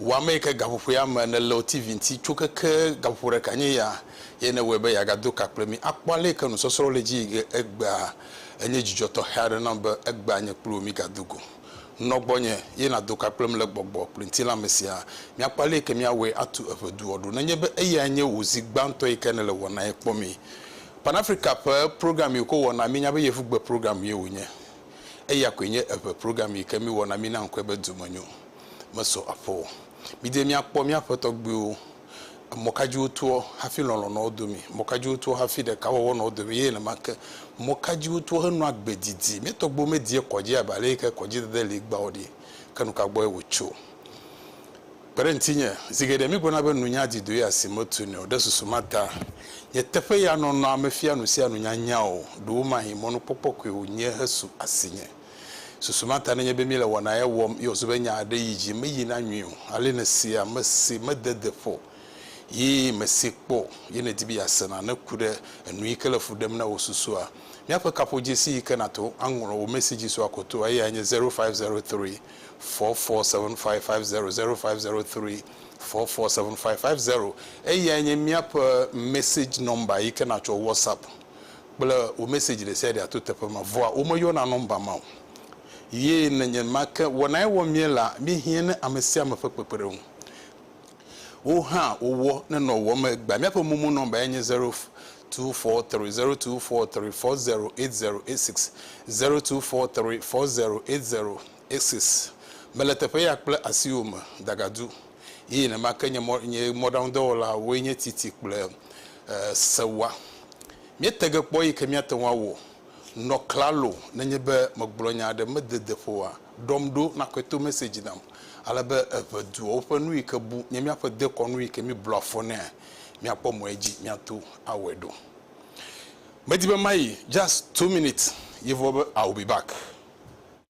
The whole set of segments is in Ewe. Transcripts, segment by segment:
Wɔ ame yi ke gaƒoƒoea me nèle o TV ŋuti tso keke gaƒoƒo ɖeka nye ya eye nèwɔe be yeagado ka kple mí akpɔ ale yi ke nusɔsrɔ̃wo le edzi yi ke egbea. Enye dzidzɔ tɔxɛ aɖe nam be egbea nye kple wò mígado go. Nɔ gbɔnye eye nàdo ka kplem le gbɔgbɔ kple ŋutilã me siaa. Míakpɔ ale yi ke míawɔe atu eƒe duɔ ɖo nenye be eyae nye wò zi gbãtɔ yi ke nèle wɔnae kpɔ mí. Pan-Afrika ƒe program yi wòko wɔ na mí nya be yevugbe program ye wònye. Eya koe nye eŋe program yi ke míwɔ na mí na ŋkɔe be Domenyo. mesɔ akpɔ o. Mide míakpɔ míaƒe tɔgbuiwo. Emɔ ka dzi wotoɔ hafi lɔlɔ̃ nɔ wo domi? Mɔ ka dzi wotoɔ hafi ɖekawɔwɔ nɔ wo domi? Eye nenema ke, mɔ ka dzi wotoɔ henɔa agbe didi? Mía tɔgbuiwo medie kɔdzi abe aleyike kɔdzidede li egbea o ɖi. Ke nuka gbɔe wotso? Kpe ɖe ŋutinye. Zi geɖe mígblɔna be nunya di do ya si metunɛ o. Ɖe susu ma ta, nye teƒe ya nɔnɔa mefia nusianu nyanya o. Ɖewomahĩ mɔnukpɔkpɔ koe wònye hesu asinye. Susu ma ta nenye be míele wɔna ya wɔm ye wòzu be nya aɖe yi dzi meyina nyuie o. Ale nèsee ame si mede de ƒo ye mèsee kpɔ o, ye nèdi be yease na neku ɖe enu yi ke le fu ɖem na wò susua. Míaƒe kaƒodzesi yi ke nàto aŋlɔ wò mesi dzi sua ko toa eyae nye zero five zero three four four seven five five zero, zero five zero three four four seven five five zero. Eyae nye míaƒe message number yi ke nàtsɔ WhatsApp. kple wò message ɖesiaɖea to teƒe ma vɔa womeyɔna nɔmba ma o ye nenyenmake wɔnae wɔm míelea míehiã ne amesiame ƒe kpekpeɖeŋu wo hã wowɔ ne nɔwɔm egbea míaƒe momo nɔmbae nye zero two four three zero two four three four zero eight zero eight six zero two four three four zero eight zero eight six mele teƒe ya kple asiwò me dagadu. Ye nenema ke nye mɔ, nye mɔɖaŋudɔwɔlawoe nye titi kple sewa. Míete ge kpɔ eyi ke míate ŋu awɔ. Nɔ klalo nenye be megblɔ nya aɖe mede de ƒo oa, ɖɔm ɖo nakɔe to message nam. Ale be eve duawo ƒe nu yi ke bu nye míaƒe dekɔnu yi ke míblɔ afɔ nɛa, míakpɔ mɔ edzi míato awɔe ɖo. Medi be mayi, just two minutes ye vɔ be I will be back.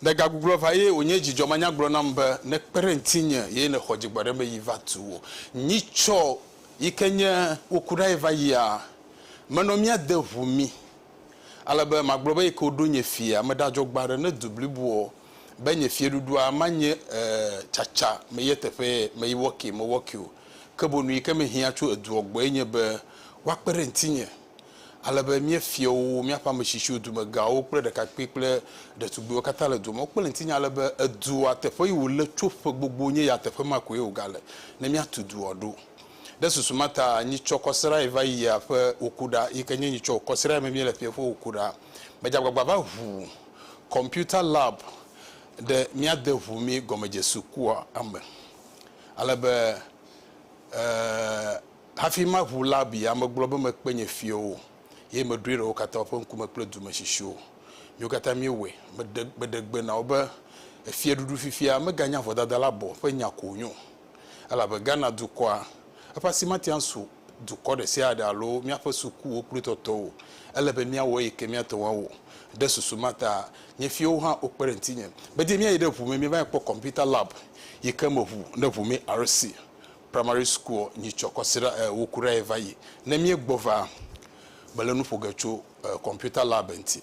Le gagugluɔ va ye wònye dzidzɔ manyagblɔ nam be nekpe ɖe ŋtinye ye nexɔ dzigbɔɖeme yi va tu wò. Nyitsɔ yike nye woku ɖae va yia? Menɔ mía de ŋu mí. Ale be magblɔ be yike woɖo nye fia ame ɖa dzɔgbe aɖe ne du bliboɔ be nye fieɖuɖua manye e tsatsa me ye teƒe me yi wɔkee mewɔkeo. Ke bonu yike mehiã tso eduɔ gbɔe nye be woakpe ɖe ŋtinye. ale be mía fiawo, míaƒe ame tsitsiwo, dumegãwo kple ɖekakpui kple ɖetugbuiwo katã le dua me. Wokpe ɖe ŋutinye ale be edua, teƒe yi wòle tso ƒe gbogbo nye ya teƒe ma koe wògale ne míatu dua ɖo. Ɖe susu ma ta, nyitsɔ kɔsiɖae va yi ya ƒe wòkuɖa, yi ke nye nyitsɔ kɔsiɖae me míele fiae ƒe wòkuɖa. Medze agbagba va ʋu kɔmpiuta lab ɖe míade ʋu mí gɔmedzesukua me ale be, ɛɛ, Hafi maʋu la abi, ame gblɔ be, Mekpe nye fiawo, eye meɖoe ɖe wo katã woƒe ŋkume kple dume tsitsiowo. Míwo katã míewɔe. Meɖe, meɖe gbe na wo be, Efiaɖuɖu fifia meganya vodada la bɔ ƒe nya ko wònye o, elabe Ghana dukɔa, eƒe asi mate ŋu asu dukɔ ɖe sia ɖe alo míaƒe sukuwo kple tɔtɔwo o. Ele be míawɔ eyi ke míate ŋu awɔ. Ɖe susu ma ta, nye fiawo hã wokpe ɖe ŋutinye. Gbedie míayi ɖe ʋu me, míeva kpɔ kɔmpita lab yi ke me ʋu ne ʋu me RC. Primary school nyi tsɔ kɔsiɖa e wo ku ɖa ye va yi. Ne mie gbɔ va, me le nu ƒo ge tso e computer lab ŋti.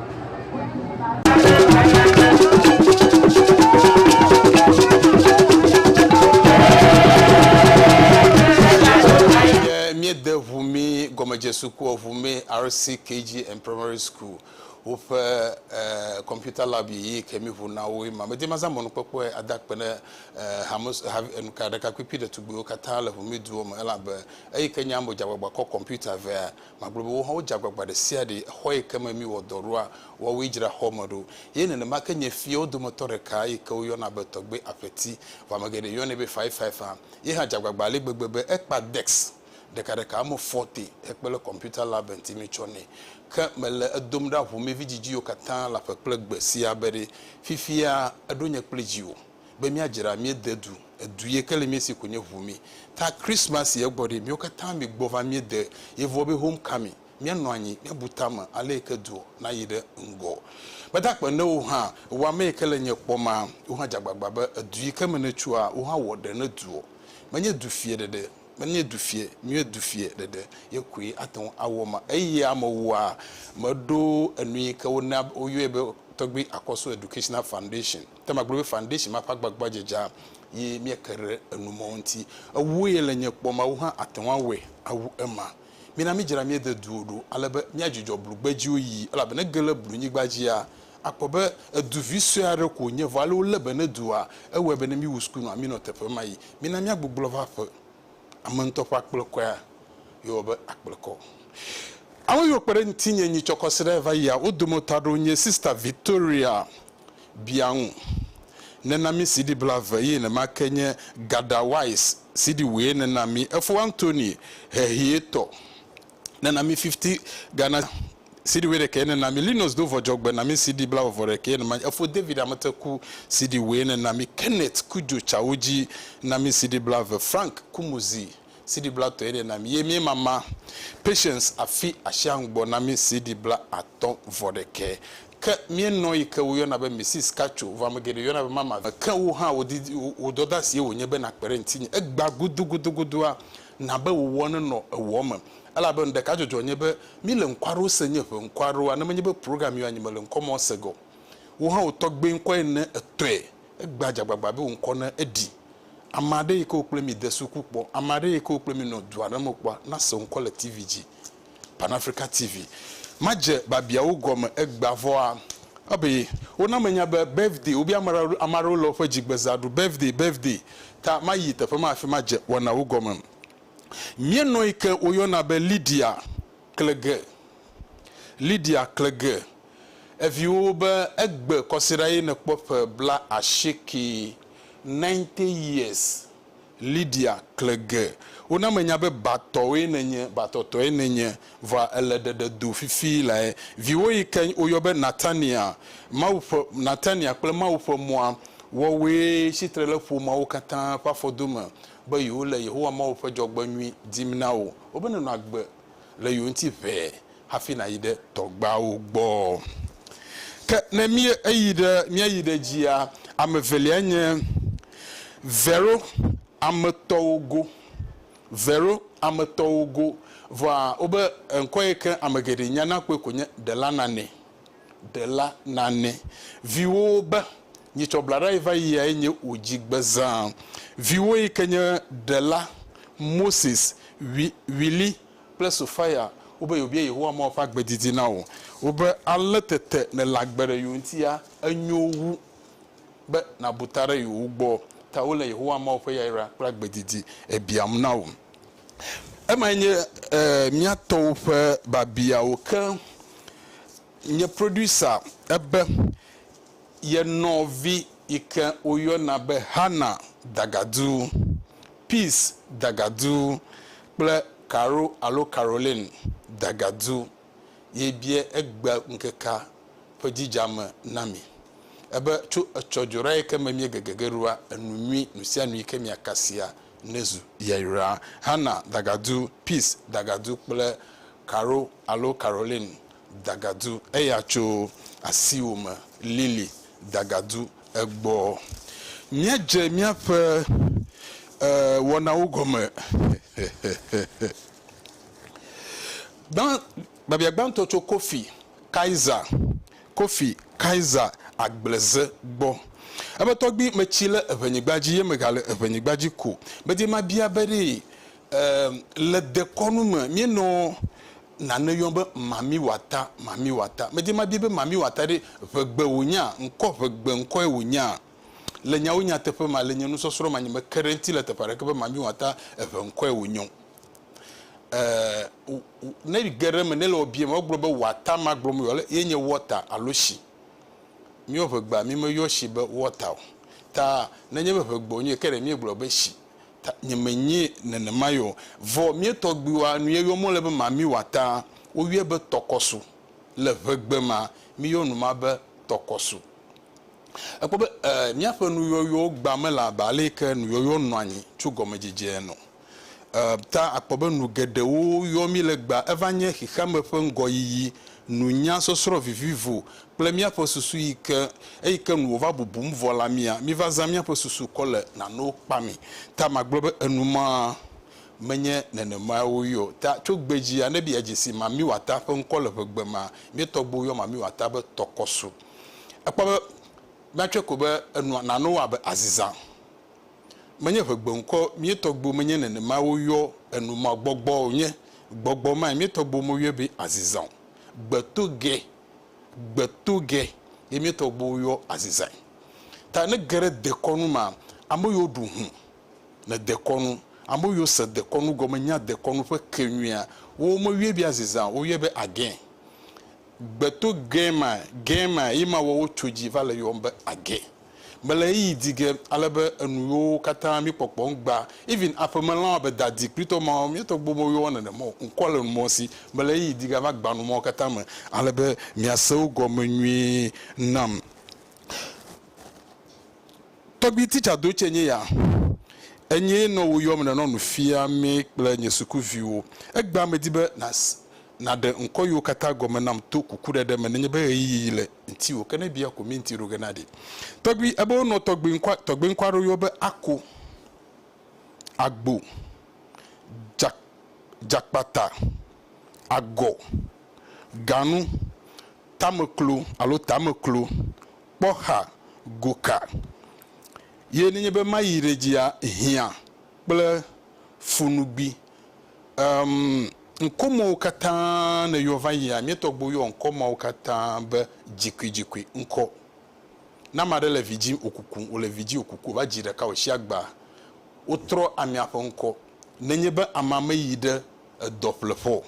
míede ŋu mí gɔmedzesukua ŋu mí RCKG and Primary School woƒe eh, computer lab yi ke mi ŋu na wo ma medi maza mɔnukpɔkpɔe ada kpe ne eh, hame enuka ɖekakpikpi ɖetugbiwo katã le ŋu mi duwo me elabe eyi ke nya mo dzagbagba kɔ computer vea Magblɔ be wo hã wodze agbagba ɖe sia ɖe xɔ yi ke me míwɔ dɔ ɖoa, woawoe dzra xɔ me ɖo. Ye nenema ke nye fiawo dometɔ ɖeka yi ke woyɔna be Tɔgbe Aƒeti, vɔ ame geɖe yɔnɛ be Faifaifa, ye hã dze agbagba ale gbegbe be ekpa desk ɖekaɖeka me fɔte hekpe ɖe kɔmpiuta la be ŋuti mítsɔ nɛ. Ke mele edom ɖa ʋu mí vidzidziwo katã le aƒe kple gbe sia be ɖe fifia eɖo nye kple dziwò. be míadzra mía de du, edu ye ke le mía si ko nye ʋu mí. Ta Christmas si egbɔ ɖi, míwo katã mi gbɔ va mía de ye vɔ be home coming, mía nɔ anyi, mía bu tame ale yi ke du na yi ɖe ŋgɔ. Gbedagbe ne wo hã, ewɔ ame yi ke le nye kpɔ ma, wo hã dze agbagba be edu yi ke me ne tsoa, wo hã wɔ ɖe ne duɔ. Me nye du fiɛ ɖeɖe, me nye du fiɛ, míwo du fiɛ ɖeɖe ye koe ate ŋu awɔ ma. Eyi ame wɔa me ɖo enu yi ke wo na wo yɔɛ be tɔgbui Akɔso Educational Foundation. Te magblɔ be foundation ma ƒe agbagba dze dza ye mieke ɖe enu mawo ŋuti. Ewo ye le nye kpɔ Mawu hã ate ŋu awɔe awu ema. Mina midzra mía de duwo ɖo ale be míadzudzɔ blugbedziwo yi elabe ne ge le blunyigba dzia, akpɔ be edu vi sue aɖe ko wònye vɔ ale wolé be ne dua ewɔe be ne míwu suku nɔa mínɔ teƒe ma yi. Mina míagbugbɔ va aƒe. Ame ŋutɔ ƒe akplekɔea yɔwɔ be akplekɔ. Ame yiwo kpe ɖe ŋutinye nyitsɔkɔsiɖae va yia wo dometɔ aɖewo nye Sista Victoria Bia ŋu. Nena mi CD blave ye nema ke nye Gather Wise CD wue nena mi. Efo Anthony Hehie tɔ nena mi 50 Ghana CD wue ɖekɛ nena mi. Linus Dovɔdzɔgbe na mi CD blave vɔ ɖekɛ ye nema. Efo David Ameteku CD wue nena mi. Kenneth Kudjo Tsawodzi na mi CD blave. Frank Kumuzi. CD bla tɔe ɖe na mi ye mie mama Patience afi asia ŋgbɔ na mi CD bla atɔ vɔ ɖekɛ ke mie nɔ yi ke wo yɔna be Mrs Cacho vɔ ame geɖe yɔna be mama vi ke wo hã wo didi wo dɔda sie wo nye be na kpe ɖe ŋtinye egba gudu gudu gudua na be wo wɔ ne nɔ ewɔ me elabe nu ɖeka dzɔdzɔ nye be mi le ŋkɔ aɖewo se nye ʋe ŋkɔ aɖewoa ne menye be program yɔ anyi mele ŋkɔ mɔ se ge o wo hã wo tɔgbe ŋkɔ ene etɔe Egbea dzagbagba be wòŋkɔ ne eɖi. Ame aɖe yi ke wo kple mi de suku kpɔ, ame aɖe yi ke wo kple mi nɔ du aɖe me kpɔa, nase ŋkɔ le TV dzi. Pan Africa TV. Madze babiawo gɔme egbea vɔa, ebe wona menya be birthday, wobe ame aɖe, ame aɖewo le woƒe dzigbezã ɖu, birthday, birthday. Ta mayi teƒe ma afi madze wɔnawo gɔme. Míenɔyi ke woyɔna be Lydia. kle ge. Lidia kle ge eviwo be egbe kɔsiɖa ye nekpɔ ƒe bla asiekee, ninety years, Lidia kle ge. Wona menya be batɔwoe nenye, batɔtɔe nenye, vɔa èle ɖeɖe do fifi lae. Viwo yi ke woyɔ be Natania, Mawu ƒe, Natania kple Mawu ƒe mɔa, wɔwoe tsitre le ƒomeawo katã ƒe afɔdome be yewole Yehowa Mawu ƒe dzɔgbenyui dim na wò, wobe nenɔ agbe le yewo ŋuti ʋɛ hafi nàyi ɖe tɔgbeawo gbɔ. Ke ne mí eyi ɖe, míayi ɖe edzia, ame evelia nye Vero ame tɔwo go. Vero ame tɔwo go. Vɔa wobe ŋkɔ yi ke ame geɖe nyana kpɔe ko nye Delanane. Ɖela nane viwòwo be, Nye tsɔ blaɖa yi va yia ye nye wò dzi gbe zã. Viwò yi ke nye ɖela, Moses, Wi, Willy, kple Sophia wobe yewobia Yehowa Mawu ƒe agbe didi na wò. Wobe, Ale tete nèle agbe ɖe yewo ŋutia, enyo wu be nàbu ta ɖe yewo gbɔ. Ta wole Yehowa Mawu ƒe yayra kple agbe didi biam na wò. Emae nye mía tɔwo ƒe babiawo ke. Nye producer ebe ye nɔvi yi ke woyɔna be Hannah Dagadu, Peace Dagadu kple Caro alo Caroline Dagadu ye bia egbea ŋkekea ƒe dzidzame na mi. Ebe, Tso etsɔ dzoɖa yi ke me miegege ge ɖoa, enu nyui nu sia nu yi ke miakasia nezu. Yaira, Hannah dagadu, Peace dagadu kple Caro alo Caroline dagadu, eya tso asiwò me, Lily dagadu, egbɔ. Míadze míaƒe wɔnawo gɔme. Gbã, biabia gbãtɔ tso Kofi Kaiser, Kofi Kaiser Agbleze, gbɔ. Ebe tɔgbi metsi le eŋenyigba dzi ye megale eŋenyigba dzi ko. Medi mabia be ɖee, eem, le dekɔnu me míenɔ nane yɔm be Mami Wata, Mami Wata. Medi mabia be Mami Wata ɖe ŋegbe wònyaa, ŋkɔ ŋegbe ŋkɔe wònyaa? Le nyawo nyateƒe mea, le nye nusɔsrɔ̃ manyi me ke ɖe eŋuti le teƒe aɖeke be Mami Wata eŋe ŋkɔe wònyɔ o. eh, ne ge ɖe eme, ne le ɔbie me, wogblɔ be wɔata ma gblɔm yɔ le, ye nye wɔta alo shi. Míɔ ʋegbea, mi me yɔ shi be wɔta o. Ta ne nye be ʋegbe wonye, ke ɖe míegblɔ be shi. Ta nye me nyi nenema yɔ. Vɔ mía tɔgbuiwoa nu ye yɔ mɔ le be ma mi wɔata, wo yɔe be tɔkɔsu. Le ʋegbe ma, mi yɔ nu ma be tɔkɔsu. Ekpɔ be eh, míaƒe nuyɔyɔwo gba me le abe ale yi ke nuyɔyɔ nɔa nyi tso gɔmedzedzea nɔ. Ta akpɔ be nu geɖewo yɔ mí legba. Eva nye xexeame ƒe ŋgɔyiyi, nunya, sɔsrɔ̃ vivivo, kple míaƒe susu yi ke, eyi ke nu wòva bubum vɔ la mía. Míva zã míaƒe susu kɔ le nanewo kpamee. Ta magblɔ be enumɔa menye nenemae woyɔe o. Ta tso gbedzia, ne miadze si mamiwata ƒe ŋkɔ le ʋegbe mea, mía tɔgbuiwo yɔ mamiwata be tɔkɔsu. Èkpɔ be míatsɔe ko be enua, nanewo abe aziza, Menye ʋe gbeŋkɔ mie tɔgbuiwo menye nenema woyɔ enu ma gbɔgbɔ o, nye gbɔgbɔ mae mie tɔgbuiwo moyɔe be aziza o. Gbeto ge, gbeto ge ye mie tɔgbuiwo yɔ azizae. Ta ne ge ɖe dekɔnu ma, ame yiwo ɖu ŋu le dekɔnu, ame yiwo se dekɔnu gɔme nya dekɔnu ƒe ke nyuia, wowo moyɔe be aziza o, woyɔe be agẽ. Gbeto ge mae, ge mae ye mawɔwo tso dzi va le yɔm be agẽ. Mele ɣeyiɣi di ge ale be enu yewo katã mi kpɔkpɔ ŋgba. Even aƒeme lãwo abe dadi kpli tɔ mawo, mi tɔ gbo me yewɔ nene mɔ o. Ŋkɔ le nu mɔ si mele ɣeyiɣi di ge ava gba nu mawo katã me ale be mia se wo gɔme nyuie nam. Tɔgbi teacher do tse nye ya. Enyee nɔ wo yɔm nenɔ nu fia mi kple nye suku viwo. Egbea me di be na na ɖe ŋkɔ yewo katã gɔme nam to kuku ɖeɖe me nenye be ɣeyiɣi le. ŋti o ke ne bia ko mi ŋti ɖo ge na ɖi tɔgbi ebe wonɔ tɔgbi ŋkua tɔgbi ŋkua ɖo yɔ be ako agbo dza dzakpata agɔ ganu tameklo alo tameklo kpɔxa goka ye ne nye be mayi ɖe dzia hiã kple funugbi Emm ŋkɔmewo katã nèyɔ va yia? Míetɔgbuiwo yɔ ŋkɔ mawo katã be dzikuidzikui ŋkɔ. Ne ame aɖe le vidzĩ wòkuku, wòle vidzĩ wòkuku, wòva dzi ɖeka wòtsi agba, wotrɔ amea ƒe ŋkɔ. Nenye be amea meyi ɖe edɔ ƒleƒe o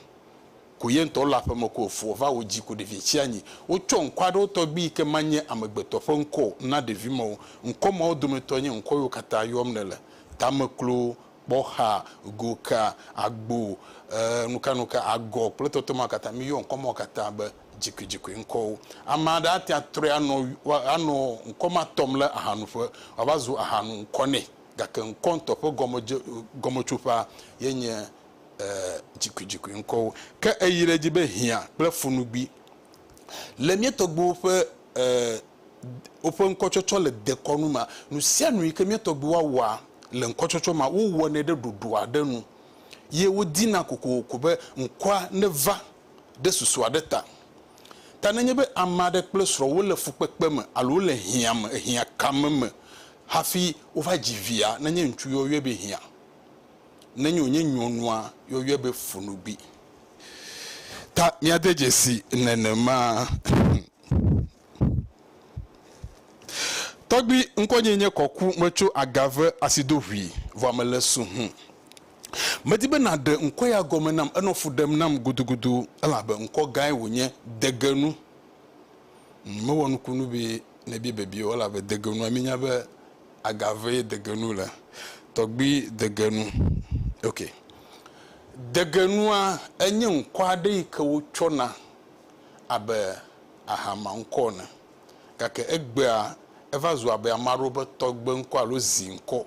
ko ye ŋutɔ wole aƒeme ko wòfu wòva wòdzi ko ɖevia tsi anyi. Wotsɔ ŋkɔ aɖewo tɔgbi yi ke manye amegbetɔ ƒe ŋkɔ o na ɖevi mawo. Ŋkɔ mawo dometɔe nye ŋkɔ yiwo katã yɔm nèle, tameklo, kpɔxa, goka, agbo, e, nukanuka, agɔ kple tɔtɔ ma katã. Míyɔ ŋkɔ mawo katã be dzikoedzikoe ŋkɔwo. Ame aɖe ate ŋu atrɔe anɔ, anɔ ŋkɔ ma tɔm le ahanuƒe wòava zu ahanu ŋkɔ nɛ. Gake ŋkɔ ŋutɔ ƒe gɔmedze, gɔmetsoƒea ye nye, e, dzikoedzikoe ŋkɔwo. Ke eyi ɖe edzi be hiã kple funugbi Le mía tɔgbuiwo ƒe e woƒe ŋkɔtsɔtsɔ le dekɔnu mea, nusianu yike mía tɔgbuiwoa wɔa le ŋkɔtsɔtsɔ mea, wowɔnɛ ɖe ɖoɖo aɖe nu ye wodina kokoko be ŋkɔa neva ɖe susu aɖe ta. Ta ne nye be ame aɖe kple srɔ̃ wole fukpekpe me alo wole hiã me, ehiã kame me hafi wova dzi via, ne nye ŋutsu yɔyɔe be hiã, ne nye wònye nyɔnua yɔyɔe be funugbi. Ta míade dzesi nenema. Tɔgbi, ŋkɔnye nye Kɔku, metso Agave Asidohui, vɔa mele Suhun. Medi be nàɖe ŋkɔ ya gɔme nam, enɔ fu ɖem nam gudugudu, elabe ŋkɔ gãe wònye, Degenu. Mewɔ nukunu be nèbia biabia o, elabe Degenua, míenya be agave degenu le tɔgbi degenu ok degenua enye ŋkɔ aɖe yi ke wotsɔ na abe aha ma ŋkɔ ene gake egbea eva zu abe ame aɖewo ƒe tɔgbe ŋkɔ alo zi ŋkɔ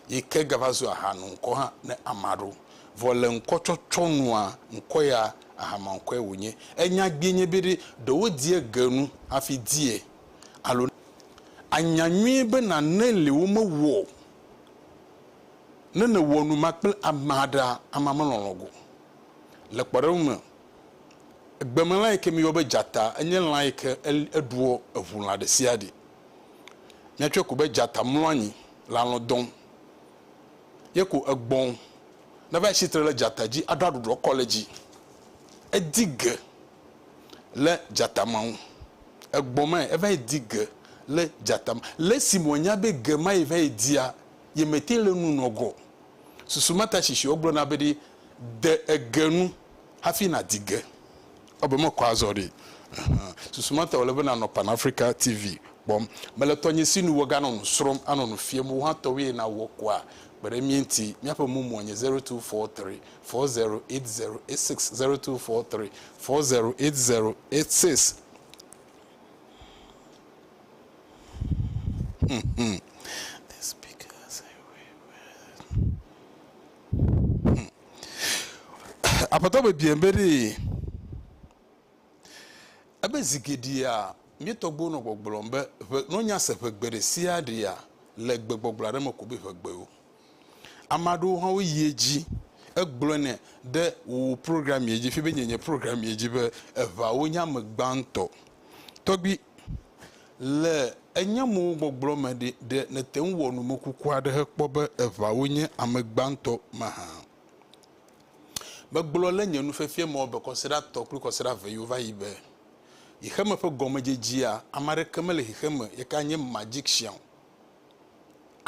yi ke gava zu aha nu ŋkɔ hã ne ame aɖewo vɔ le ŋkɔ tsɔtsɔ nua ŋkɔ ya aha ma ŋkɔe wonye enya gbee nye be ɖe ɖewo die genu hafi die alo ànya nyuie be nane li womewɔ o ne nèwɔ nu ma kple ame aɖea, amea melɔ̃lɔ̃ go. Le kpɔɖeŋu me, gbemelã yi ke míeyɔ be dzata enye lã yi ke eɖua eŋu lã ɖesiaɖe. Míatsɔe ko be dzata mlɔ anyi le alɔ̃ dɔm. Ye ko egbɔ̃ neva tsi tre ɖe dzata dzi aɖo aɖuɖɔ kɔ le edzi. Edi ge le dzatama ŋu. Egbɔ mae, eva yi di ge le dzatama. Le esime wònya be ge ma ye va yi dia, yemete le enu nɔ gɔ o. Susu ma ta tsitsi wogblɔ na be ɖi, de ege nu hafi nàdi ge. Ewɔ abe mekɔ azɔ ɖi. Ɛhɛ. Susu ma ta wòle be nànɔ Pan Africa TV kpɔm. Mele tɔnye si nu woganɔ nu srɔ̃m, anɔ nu fiam. Wò hã tɔwòe nàwɔ koa? Kpe ɖe mía ŋuti. Míaƒe mumuɔ nye zero two four three. four zero eight zero eight six zero two four three four zero eight zero eight six. apɔtɔ bebie be ɖee ebe zi geɖea mía tɔgbuiwo nɔ gbɔgblɔm be ʋe nɔ nya se ʋegbe ɖe sia ɖea le gbegbɔgblɔ aɖe me ko be ʋegbewo. Ame aɖewo hã woyi edzi hegblɔnɛ ɖe wò programmee dzi fibe nye nye programmee dzi be eŋawo nye ame gbãtɔ. Tɔgbui, le enye mo gbɔgblɔ me ɖe, ɖe nète ŋu wɔ numekuku aɖe hekpɔ be eŋawo nye ame gbãtɔ mahã? Megblɔ le nye nufiafia me wɔbe kɔsiɖa tɔ kple kɔsiɖa eve yiwo va yi be, Xexeme ƒe gɔmedzedzea, ame aɖeke mele xexeme, yeka nye magician o.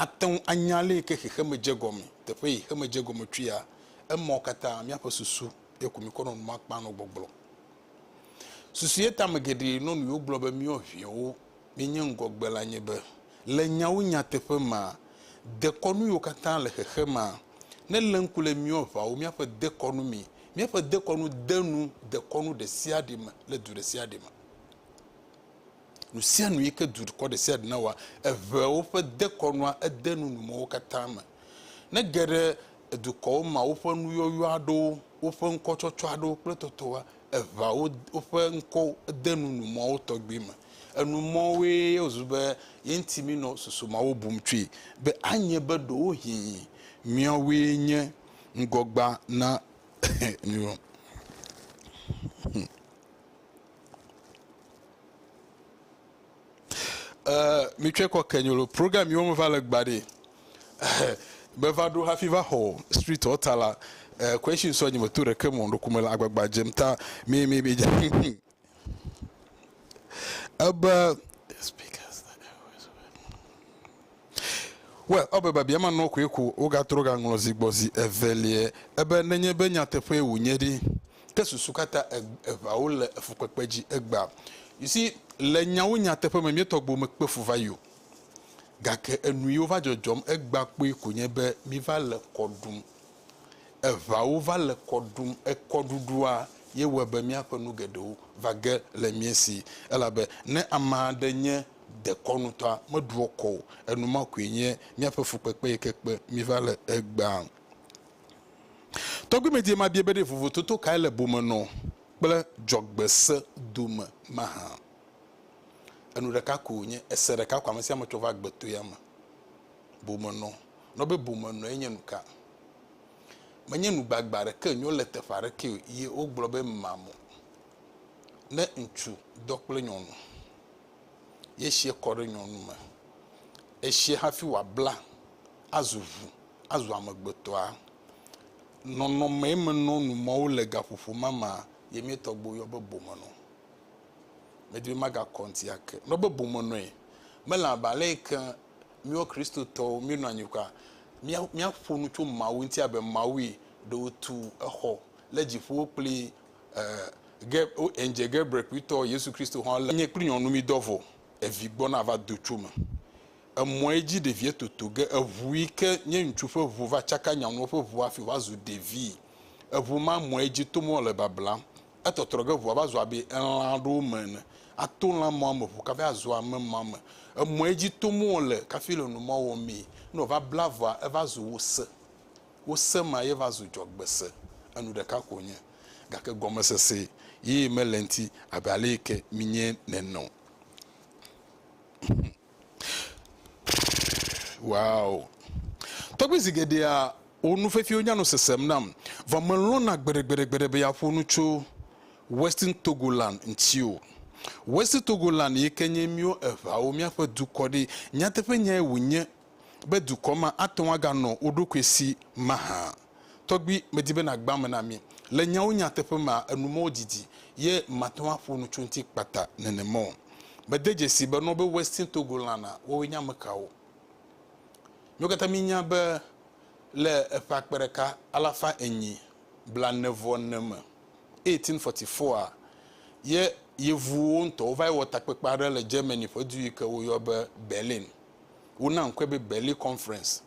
ate ŋu anya le yi ke xexeme dze gɔme, teƒe yi xexeme dze gɔme tsoea, emawo katã míaƒe susu ye ko míkɔ nɔ numa kpam nɔ gbɔgblɔ. Susu ye tame geɖe nɔ nu yewo gblɔ be míewɔ ʋɛwo, míenye ŋgɔgbe la nye be, le nyawo nyateƒe mea, dekɔnu yiwo katã le xexemea, ne lé ŋku le míwo aʋawo, míaƒe dekɔnu mi, míaƒe dekɔnu de nu dekɔnu ɖe sia ɖe me le du ɖe sia ɖe me. Nu sia nu yi ke dukɔ ɖe sia ɖe nawɔa, eʋea woƒe dekɔnua ede nu nu mɔwo katã me. Ne ge ɖe dukɔwo mea woƒe nuyɔyɔ aɖewo, woƒe ŋkɔtsɔtsɔ aɖewo kple tɔtɔwoa, eʋea wo woƒe ŋkɔ de nu nu mɔwo tɔgbi me. Enu mɔwoe wòzu be ye ŋuti minɔ susu mawo bum tsoe be anye be ɖewohĩ miawoe nye ŋgɔgba na mi. Eh, mi tsɔe kɔ ke nyolo. Program yiwo me va le gba ɖi. Be va ɖo hafi va xɔ street ɔta la. Eh, question sɔ nyi me to ɖeke mo ɖo kume le agbagba jem ta. Mi mi mi. Ebe We, ɔbe babia ma nɔ koe ko wo ga trɔ ga ŋlɔ zi gbɔ zi eveliɛ. Ebe nenye be nyateƒe wò nye ɖi. ke susu katã eŋawo le fukpekpe dzi egbea. You see, le nyawo nyateƒe me, míetɔ gbewo mekpe fu va yi o. Gake enu yiwo va dzɔdzɔm egbea kpɔe ko nye be míva le kɔ ɖum. Eŋawo va le kɔ ɖum. Ekɔɖuɖua ye wɔe be míaƒe nu geɖewo va ge le mía si. Elabe ne ame aɖe nye dekɔnutɔa, meɖua kɔ o. Enu ma koe nye míaƒe fukpekpe yi ke kpe mí va le egbea. Tɔgbuimedie ma bia be ɖe vovototo kae le bomenɔ kple dzɔgbese dome mahã? Enu ɖeka ko wònye, ese ɖeka ko amesiame tsɔ va agbetoea me. Bomenɔ. Nɔ be bomenɔe nye nuka? Menye nu gbagba aɖeke nyo le teƒe aɖekee o ye wogblɔ be mamo. Ne ŋutsu dɔ kple nyɔnu ye esiɛ kɔ ɖe nyɔnu me, esiɛ hafi wòabla azu ʋu azu amegbetɔa? Nɔnɔmee menɔ nu mɔ wole gaƒoƒo ma mea, ye mía tɔgbuiwo yɔ be bomenɔ. Medi be magakɔ ŋuti ake. Meyɔ be bomenɔe, mele abe ale yi ke míawo Kristotɔwo míenɔ anyi kura mía, míaƒo nu tso Mawu ŋuti abe Mawue, ɖe wòtu exɔ le dziƒowo kple e, ge, o, Andzia Gabriel kpuitɔ Yesu Kristo hã le. Nye kple nyɔnu mídɔ vɔ, evi gbɔ nava do tso me. emɔe dzi ɖevie toto ge eʋu yi ke nye ŋutsu ƒe ʋu va tsaka nyanuwo ƒe ʋu hafi wòva zu ɖevi. Eʋu ma mɔe dzi tom wòle bablam. Etɔtrɔ ge ʋua va zu abe elã aɖewo me ene. Ato lã mɔa me ʋu kafi azu ame mɔa me. Emɔe dzi tom wòle kafi le nu ma wɔmee. Ne wòva bla ʋua eva zu wose. Wose ma ye va zu dzɔgbese. Enu ɖeka ko wònye gake gɔmesese ye mele eŋuti abe ale yi ke minyɛ nene o. Wow. Tɔgbi zi geɖea wo nu fefio nya nu sesem nam vɔ me lɔna gbeɖegbeɖegbeɖe be ya ƒo nu tso Western Togoland ŋti o. West Togoland yi ke nye miwo eŋawo mia ƒe dukɔ ɖe nyateƒe nyae wo nye be dukɔ ma ate ŋu aga nɔ wo ɖokui si maha? Tɔgbui, medi be nàgbã eme na mí. Le nyawo nyateƒe mea, enu mɔwo didi, ye mate ŋu aƒo nu tso eŋuti kpata nenema o. Mede dzesii be nɔ be Western Togo lãna, woawoe nye amekawo? Míwo katã míenya be le eƒe akpe ɖeka alafa enyi blaene-vɔ-ene me, 1844, a, ye Yevuwo ŋutɔ wova yi wɔ takpekpe aɖe le Germany ƒe du yi ke woyɔ be Berlin. Wona ŋkɔe be Berlin Conference,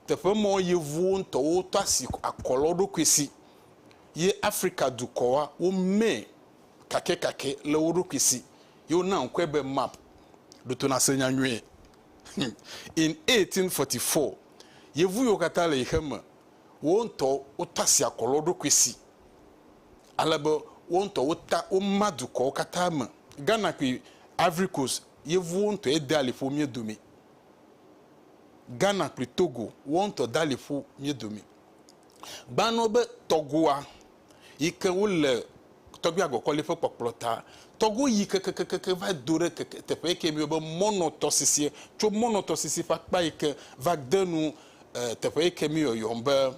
teƒe mɔ yevuwo ŋtɔwo tɔ asi akɔ le wo ɖokui si ye Afrika dukɔa wo mɛ kakɛkakɛ le wo ɖokui si ye wona ŋkɔe be map. Ɖo to nase nya nyuie. In 1844, yevu yiwo katã le ɣexe me wo ŋtɔ wo tɔ asi akɔ le wo ɖokui si ale be wo ŋtɔ wo ta wo ma dukɔwo katã me. Ghana kple Ivory Coast yevuwo ŋutɔe dea liƒo mía dome. Ghana kple Togo, woawo ŋutɔ dea liƒo mía dome. Gbanɔ be Tɔgoa yi ke wole tɔgbui agɔkɔli ƒe kpɔkplɔ ta. Tɔgo yi kekekeke va do ɖe keke teƒe yi ke miyɔ be Mɔnɔ tɔsisi. Tso Mɔnɔ tɔsisi ƒe akpa yi ke va de nu teƒe yi ke miyɔ yɔm be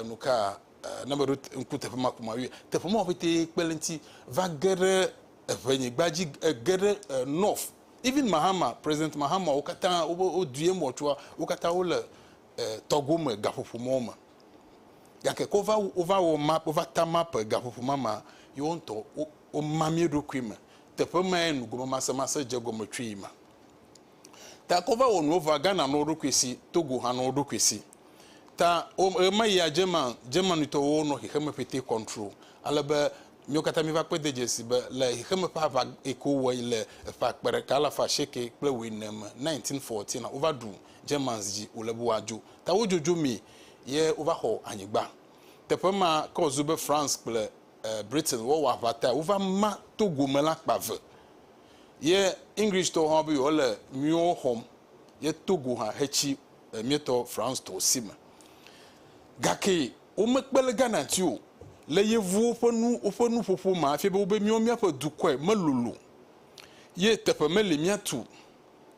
nu ka ne meɖo ŋku teƒe ma ko ma yɔe. Teƒe mawo ƒete kpe ɖe eŋuti va ge ɖe eʋe nyigba dzi ege ɖe north even mahama president mahama wo katã wo dui emɔ tsoa wo katã wo le tɔgo me gaƒoƒo mɔ me gake ko va wo va wɔ map wo va ta map gaƒoƒo ma ma yi wo ŋutɔ wo ma mi ɖokui me teƒe ma ye nu gome masɛ masɛ dze gɔme tsoe ma ta ko va wɔ nu va gana no ɖokui si togo hã no ɖokui si ta wo ma ya dze ma dze ma nutɔ wo no xexeme pete control ale be Míwo katã míva kpɔe de dzesi be le xexeme ƒe aʋa yi ke wowɔe le eƒe akpe ɖeka alafa asieke kple wuiene me, 1914, la, wova ɖu Germans dzi wòle be woadzo. Ta wodzodzo mi ye wova xɔ anyigba. Teƒe ma ke wòzu be France kple Britain woawɔ aʋa tae. Wova ma Togo me la kpa ve. Ye Englishtɔwo hã be yewoale míwo xɔm ye Togo hã hetsi míetɔ Francetɔwo si me. Gake Womekpe le Ghana ti o. Le yevuwo ƒe nu woƒe nuƒoƒo me afia be wobe míawo míaƒe dukɔe melolo ye teƒe meli míatu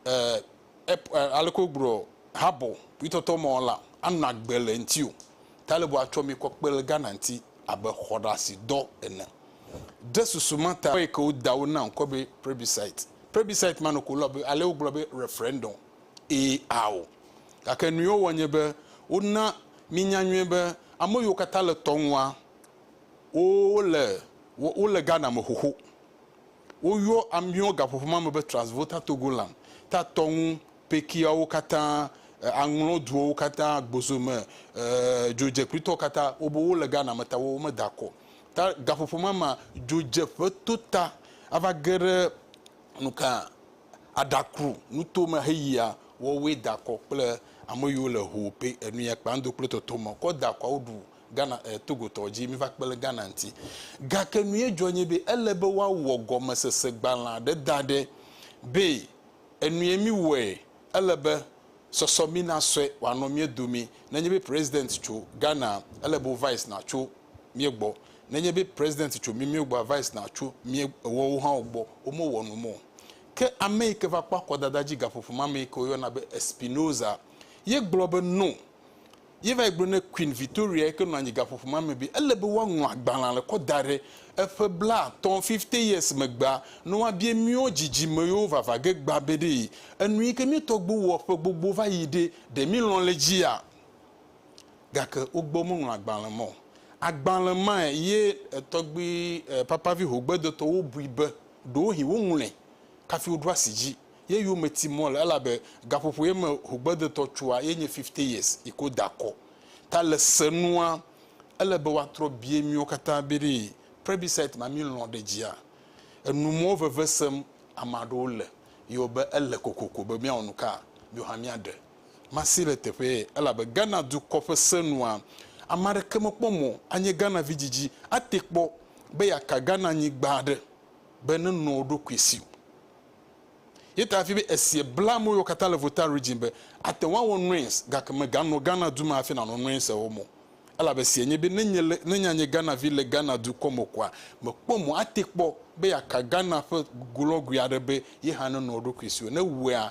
e ep e aleke wogblɔ habɔ kpuitɔtɔ mɔ la anɔ agbe le eŋti o. Talib atsɔ mi kɔ kpe le Ghana ŋti abe xɔɖasi dɔ ene. Ɖe susu ma ta yike woda wo na ŋkɔ be prebisait. Prebisait ma nɔ ko lɔ be ale wogblɔ be refrɛndɔm. Ee, ao. Gake nuyio wɔ nye be wona míenya nyuie be ame yiwo katã le tɔ ŋua, wole, wole Ghana me xoxo. Woyɔ míɔ gaƒoƒo ma me be Transvolta Togoland, ta tɔ ŋu pekiawo katã, aŋlɔ duɔwo katã, gbozo me, ee, dzodzekpuitɔwo katã, wobe wole Ghana me ta wome da kɔ. Ta gaƒoƒo ma mea, dzodzeƒe to ta ava ge ɖe nuka? aɖakru nuto me heyia wɔwoe dakɔ kple ameyiwo le hoo pe enuya kpa ŋdo kple tɔtɔ mɔ kɔ dakɔa woɖu Ghana eh, Togo tɔ dzi miva kpe le Ghana ŋti. Gake nuye dzɔ nye be ele be woawɔ gɔmesese gbalẽ aɖe da ɖe be enuye mi wɔe ele be sɔsɔ mi na sɔe wanɔ mie domee nenye be president tso Ghana ele be wo vice na tso mía gbɔ. Nenye be president tso mí mía gbɔa, vice na tso mía ewɔwo hã wo gbɔ, wo me wɔ num o. Ke ame yi ke va kpɔ akɔdada dzi gaƒoƒo ma me yi ke wo yɔna be Espinoza ye gblɔ be no. Ye va yi gblɔ ne Queen Victoria yi ke nɔ anyi gaƒoƒo ma me be ele be woaŋlɔ agbalẽa le kɔ da ɖe eƒe bla atɔ̃, fifty years, megbea ne woabia míɔ dzidzime yewo vava ge gbã be ɖee enu yi ke mía tɔgbuiwo wɔ ƒe gbogbo va yi ɖe, ɖe mí lɔ̃ le edzia? gake wogbɔ womeŋlɔ agbalẽ ma o. Agbalẽ mae ye Tɔgbui Papavi Hogbedotɔwo bui be ɖewohĩ woŋlɔe kafi woɖo asi dzi ye yome ti mɔ le elabe gaƒoƒo ye me Hogbedotɔ tsoa ye nye Fifty Years yi ke woda akɔ. Ta le se nua, ele be woatrɔ bie miwo katã be ɖee Plebiscite ma milɔ̃ ɖe edzia? Enu mɔ veve sem ame aɖewo le ye wo be ele kokoko be miawɔ nuka miwo hã miaɖe. Masi le teƒee elabe Ghana dukɔ ƒe se nua, ame aɖeke mekpɔ mɔ anye Ghana vi didi ate kpɔ be yeaka Ghana nyigba aɖe be nenɔ eɖokui si o. Ye ta hafi be esie bla amewo yiwo katã le Volta Region be ate ŋu awɔ Noins gake meganɔ Ghana du me hafi nanɔ Noins o mɔ elabe esie nye be ne nye le ne nyanye Ghana vi le Ghana dukɔ me koa mekpɔ mɔ ate kpɔ be yeaka Ghana ƒe glɔgui aɖe be ye hã nenɔ eɖokui si o ne ewɔea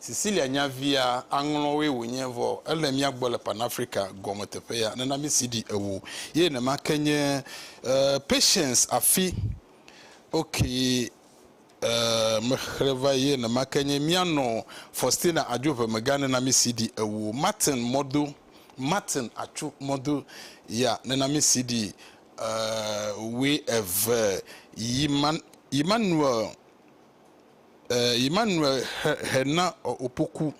Cecilia nya via, aŋlɔwoe wònye, vɔ ele mía gbɔ le Panafrica gɔme teƒe ya, nena mí CD ewo. Ye nema ke nye eh, Patience afi, ok eh, mexlẽ va yi, ye nema ke nye míanɔ Faustina adzo ʋe mega, nena mí CD ewo. Martin mɔdo, Martin atsu mɔdo ya, nena mí CD eh, wue eve. Yiman, Yimmanuel. Eh, Emmanuel Hena Opoku.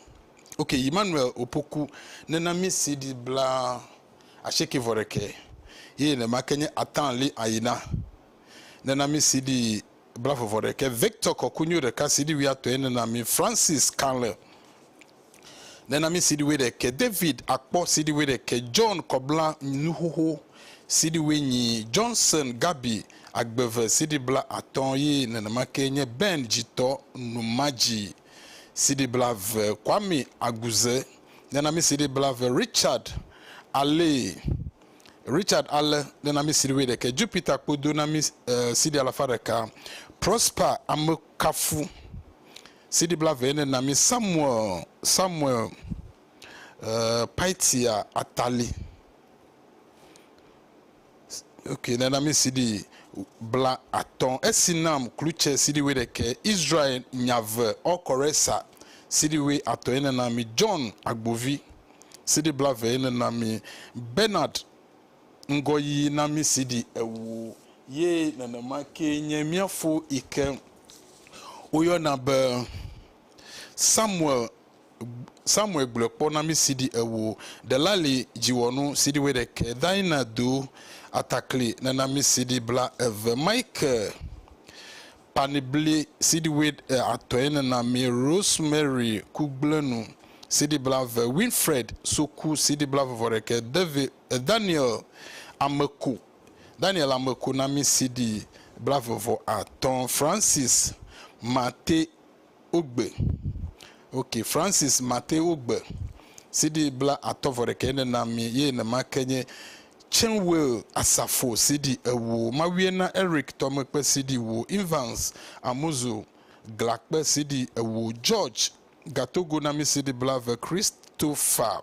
Ok, Emmanuel Opoku nena mi CD bla ashieke vɔ ɖekɛ. Ye ne ma ke nye Atan Li Ayina. Nena mi CD bla vɔ vɔ ɖekɛ. Victor Kɔkunyo ɖeka CD wiatɔ ye nena mi Francis Kanle. Nena mi CD wuiɖekɛ David akpɔ CD wuiɖekɛ John kɔbla nuxoxo CD wuinyi Johnson Gabi agbeve CD bla atɔ yi nenemake nye Ben dzitɔ numadzi CD bla ve Kwame aguze Nena mi CD bla ve Richard ale Richard ale Nena mi CD wuiɖekɛ Jupiter kpodo na mi CD alafa ɖeka Prosper amekafu CD blaevee ne na mi Samuel Samuel uh, Paitia Atali. Ok, ne na mi CD bla atɔ. Esi nam klutse CD we ɖeke. Israel nyave ɔkɔresa CD we atɔ ye ne na mi John Agbovi. CD blaevee ne na mi Bernard Ŋgɔyiyi na mí si ɖi ewu ye nenema kee nye mía fo yi ke woyɔna be Samuel Samuel gblɔe kpɔ na mí si ɖi ewu. Delali dziwɔnu si ɖi wuiɖekɛ, Daina do atakli nena mí si ɖi bla eve, Mike panibli si ɖi wui atɔe nena mí, Rosemary kugblẽnu si ɖi bla ve, Winfred soku si ɖi bla vevɔ ɖekɛ, David Daniel ame ku Daniel ame ku na mí CD blave vɔ atɔ Francis Mate Ogbe ok Francis Mate Ogbe CD bla atɔ vɔ ɖekɛ ne na mí ye nema ke nye Chenwell Asafo CD ewo Mawie na Eric Tɔmekpe CD wo Evans Amuzu Glakpe CD ewo George Gatogo na mí CD blave Christopher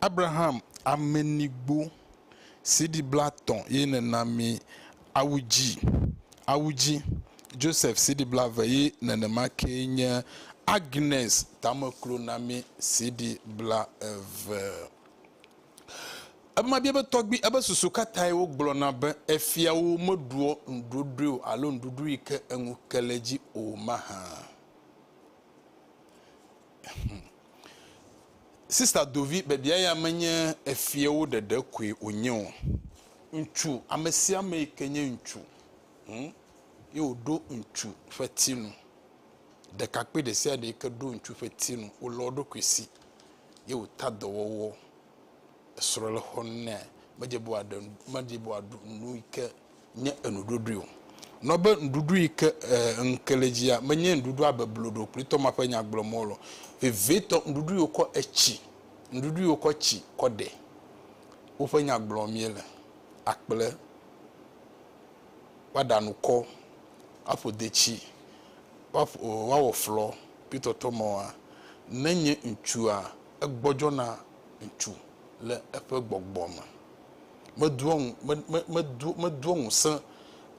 Abraham ame nigbo siɖi bla tɔ̃ ye ne na mi awu dzi, awu dzi, Joseph siɖi bla ve ye ne ne ma ke nye Agnes tame klo na mi siɖi bla eve. Ema bia be tɔgbi ebe susu ka tae wo gblɔ na be efia wo me ɖuɔ nuɖoɖoe o alo nuɖuɖu yi ke eŋu ke le dzi o maha. Hum. Sista Dovi, biabia ya menye efiawo ɖeɖe koe wònye o. Ŋutsu, ame sia ame yi ke nye ŋutsu, hum, ye wòɖo ŋutsu ƒe ti nu. Ɖekakpui ɖe sia ɖe yi ke ɖo ŋutsu ƒe ti nu, wolɔ eɖokui si, ye wòta dɔwɔwɔ. esrɔ̃ le xɔ nu nɛ, medze be wòaɖe medze be wòaɖu nu yi ke nye enuɖuɖui o. Nɔ be nuɖuɖu yi ke e ŋke le dzia menye nuɖuɖua beblo ɖe o kple tɔma ƒe nya gblɔ mɔ lɔ. Vevietɔ nuɖuɖu yi wokɔ etsi nuɖuɖu yi wokɔ tsi kɔ ɖe woƒe nya gblɔ mie le. Akple woaɖa nukɔ, woaƒo detsi, woaƒo woawɔ flɔ kple tɔtɔmɔa. Ne nye ŋutsua egbɔdzɔna Ŋutsu le eƒe gbɔgbɔ me. Medoa ŋu, me, me, medo, medoa ŋusẽ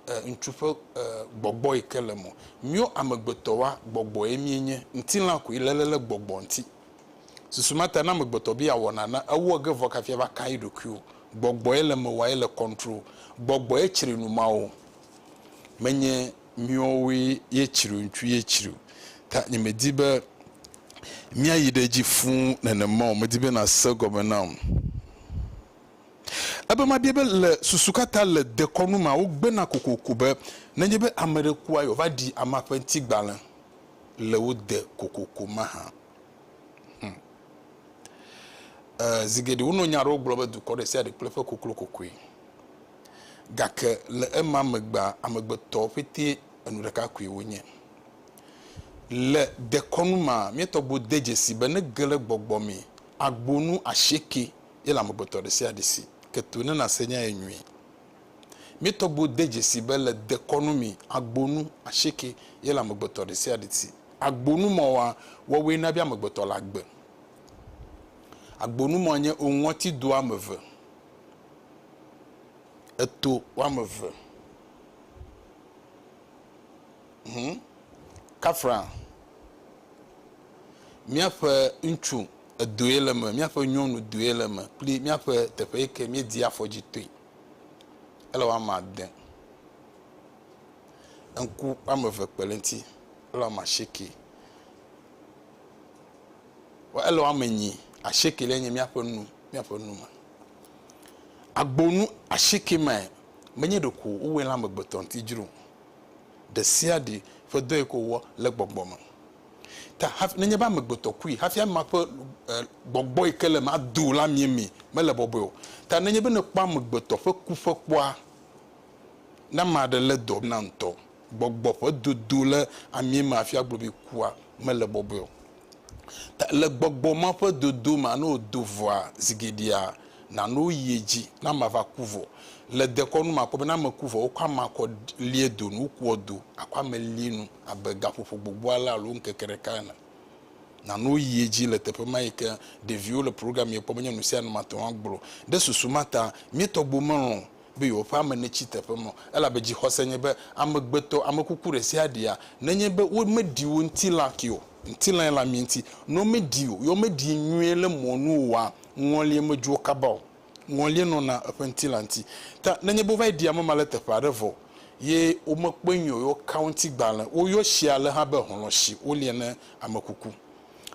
e, ŋutsu ƒe e, gbɔgbɔ yi ke le me. Míwo amegbetɔwoa, gbɔgbɔe míenye. Ŋutilã koe le le le gbɔgbɔ ŋuti. Susu ma ta ne amegbetɔ be yeawɔ nane, ewɔ ge vɔ kafi ava ka eɖokui o. Gbɔgbɔe le me wɔa, ele control. Gbɔgbɔe tsri nu mawo. Menye Miɔwoe yetsri ŋtsu yetsri o ta nye me di be mia yi ɖe dzi fuu nenema o, me di be na se egɔme nam. Ebe ma bia be le susu ka ta le dekɔnu mea wo gbena kokoko be nenye be ame ɖe kua yɔ va ɖi amea ƒe ŋti gbalẽ le wo de kokoko mahã. Hum. E, zi geɖe wo nɔ nya ɖewo gblɔ be dukɔ ɖe sia ɖe kple eƒe koklo kokoe. Gake le ema megbea, amegbetɔwo ƒete enu ɖeka koe wonye. Le dekɔnu mea, mía tɔgbuiwo de dzesii be ne ge le gbɔgbɔ mee, agbonu asieke ye le amegbetɔ ɖesiaɖe si. Ke to ne nàse nya ye nyuie. Mía tɔgbuiwo de dzesii be le dekɔnu mee, agbonu asieke ye le amegbetɔ ɖesiaɖe si. Agbonu mɔ wɔa, wɔwɔe na be amegbetɔ la gbe. Agbonu mɔ nye oŋɔti do ame eve. eto woame eve hũ kafra míaƒe ŋutsu edoe le eme, míaƒe nyɔnu doe le eme kple míaƒe teƒe yi ke míedi afɔ dzi toe. Ele woame ade. Ŋku woame eve kpe ɖe eŋuti. Ele woame asieke. Vɔ ele woame nyi ashiekeliɛ nye míaƒe nu, míaƒe nu me. Agbo nu ashieke mae menye ɖeko wowɔe le amegbetɔ ŋuti dzro o. Ɖesiaɖi ƒe dɔ yi ke wowɔ le gbɔgbɔ me. Ta hafi nenye be amegbetɔ kui hafi amea ƒe e gbɔgbɔ yi ke le eme ado o la mie mi mele bɔbɔe o. Ta nenye be nèkpɔ amegbetɔ ƒe ku ƒe kpɔa, ne ame aɖe lé dɔ na ŋutɔ gbɔgbɔ ƒe dodo le amie me afia globi kua mele bɔbɔe o. Ta le gbɔgbɔ ma ƒe dodo mea, ne wòdo vɔa zi geɖea, nano woyi edzi ne amea va ku vɔ. Le dekɔnu me akpɔ be ne ame ku vɔ, wokɔ amea kɔ lie do nu, wokua do akɔ ame lie nu abe gaƒoƒo gbogbo ale alo ŋkeke ɖeka ene. Nano woyi edzi le teƒe ma yi ke ɖeviwo le programme ye kpɔ be nye nusianu mate ŋu agblɔ. Ɖe susu ma ta, mía tɔgbuiwo melɔ̃ be yewoƒe ame netsi teƒe me o, elabe dzixɔse nye be amegbetɔ, ame kuku ɖesiaɖea, nenye be womeɖi wo ŋutilã ke o, ŋutilãe le amee ŋuti, ne womeɖii o, ye womeɖii nyuie le mɔ nu oa, ŋɔlie medzu wo kaba o. Ŋɔlie nɔna eƒe ŋutilã ŋuti. Ta nenye be wova yi ɖi ame ma le teƒe aɖe vɔ ye womekpɔe nyuie o, ye woka wo ŋuti gbalẽ, woyɔ tsia alea hã be hlɔ̃ si woliɛ ne ame kuku.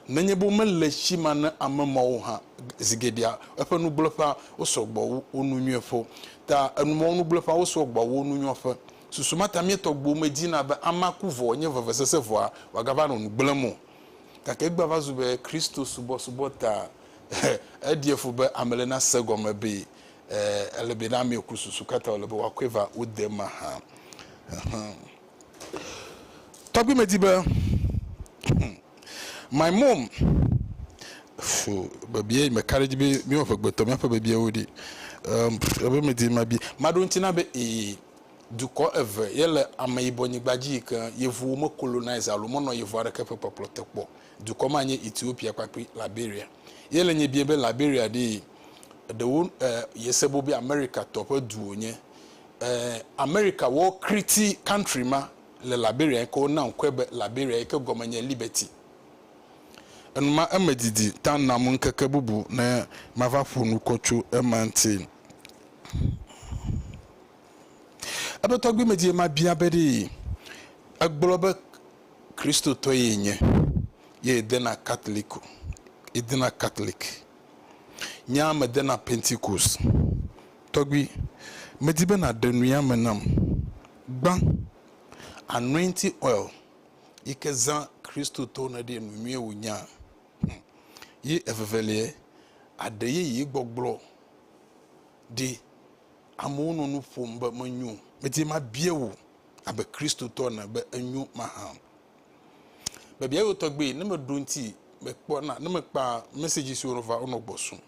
nenye be womele tsi ma ne ame mawo hã zi geɖea, eƒe nugblẽƒea wosɔ gbɔ wu wo nu nyuiƒewo. Ta enu mawo nugblẽƒea wosɔ gbɔ wu wo nu nyuiƒe. Susu ma ta míetɔ gbewo medina be amea ku vɔ wòanye vevesese vɔa, wòagava nɔ nu gblẽm o. Gake egbea va zu be Kristo subɔsubɔ ta eɖia fu be ame le nasee egɔme be ele be ne amee ku susu ka ta wòle be woakɔe va wo de ema hã. Tɔgbi me di be my mom fo bebie me ka ɖe dzi be mi eve gbe tɔ miaƒe bebiewo ɖi. Um, ebe me di ma bi. Ma ɖo ŋuti na be ee dukɔ eve ye le ameyibɔ nyigba dzi yi ke yevuwo me colonize alo menɔ yevu aɖeke ƒe kpɔkplɔ te kpɔ. Dukɔ ma nye Ethiopia kpakple Liberia. Ye le nye bia be Liberia ɖee ɖewo eh, yese bo be America tɔ ƒe du wonye. Ɛɛ, Amerika wɔ kriti kantri ma le Liberia yi ke wona ŋkɔe be Liberia yi ke gɔme nye Liberty. Enu ma eme didi ta nam ŋkeke bubu ne mava ƒo nu kɔ tso ema ŋuti. Ebe tɔgbuimedie mabia be ɖee egblɔ be Kristotɔe yenye ye yedena Katoliku, yedena Katoliki Nyaa mede na Pentekost. Tɔgbui, medi be nàɖe nuya me nam gbã. Anointing oil yi ke zã Kristotɔwo ne ɖee nu nyuie wònya. Hm, ye eveveliɛ, aɖe yeye gbɔgblɔ ɖi. Amewo nɔ nu ƒom be menyo. Medi be mabia wò abe Kristotɔ ene be enyo mahã. Bebia yo tɔgbe ne meɖo ŋuti mekpɔ na ne mekpa message siwo va wonɔ gbɔsum.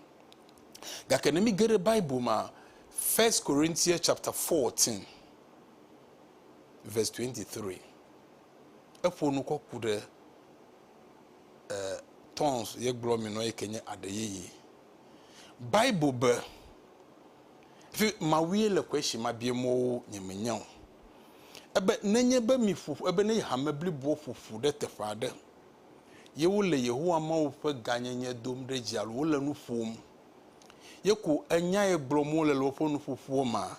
Gake ne mi geɖe Bible ma First Corinthians chapter 14 verse 23 eƒo nu kɔ ku ɖe eh, tons ye gblɔ mi nɔ yi ke nye aɖe yeye. Bible be Fi mawue le xɔe si mabie mɔwo nyemenya o. Ebe nenye be mi ƒo ƒu, ebe nenye hame bliboa ƒo ƒu ɖe teƒe aɖe, ye wole Yehowa Mawu ƒe gãnyenye dom ɖe dzi alo wole nu ƒom, ye ko enyae gblɔm wole le woƒe nuƒoƒoa mea,